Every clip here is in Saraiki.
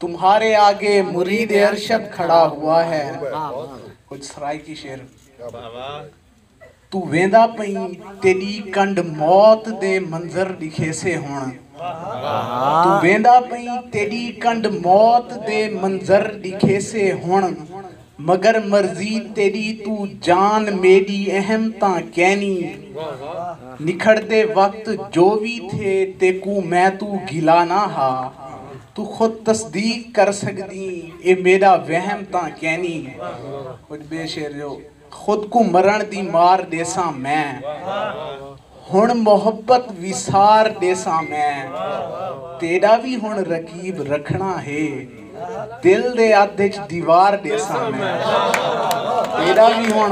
تمہارے آگے مرید ارشد کھڑا ہوا ہے کچھ سرائیکی شعر تو ویندا پئیں تیڈی کنڈ موت دے منظر ڈکھیسے ہن تو ویندا پئیں تیڈی کنڈ موت دے منظر ڈکھیسے ہن مگر مرضی تیݙی توں جان میݙی اہم تاں کینی نکھڑدے وقت جو وی تھئے تیکوں میں توں گھلا نہ ہا توں خود تصدیق کر سڳدیں اے میݙا وہم تاں کینی کجھ ٻئے شعر جو خود کوں مرݨ دی مار ݙیساں میں۔ ہݨ محبت وسار ݙیساں میں تیݙا وی ہݨ رقیب رکھݨا ہے دل دے ادھ اچ دیوار ݙیساں میں تیݙا وی ہݨ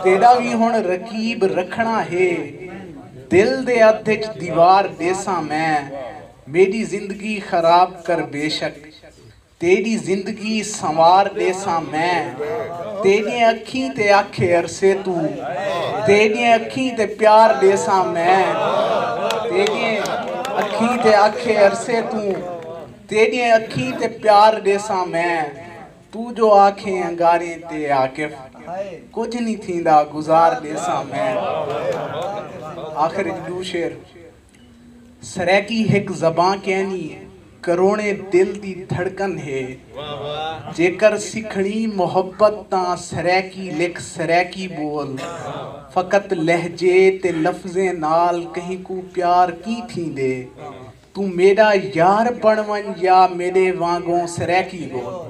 تیݙا وی ہݨ رقیب رکھݨا ہے دل دے ادھ اچ دیوار ݙیساں میں میݙی زندگی خراب کر بیشک تیݙی زندگی سنوار ݙیساں میں تیݙیں اکھیں تے آکھے ارسے توں تیݙیں اکھیں تے پیار ݙیساں میں تیݙیں اکھیں تے آکھے ارسے توں تیݙیں اکھیں تے پیار ݙیساں میں توں جو آکھیں انگاریں تے عاقف کجھ نی تھیندا گزار ݙیساں میں آخر اچ ݙو شعر۔ سرائیکی ہک زباں کینی کروڑیں دل دی دھڑکن ہے جیکر سکھنڑی محبت تاں سرائیکی لکھ سرائیکی بول فقط لہجے تے لفظیں نال کہیں کوں پیار کیں تھیندے توں میڈا یار بنڑ ونج یا میڈے وانگوں سرائیکی بول۔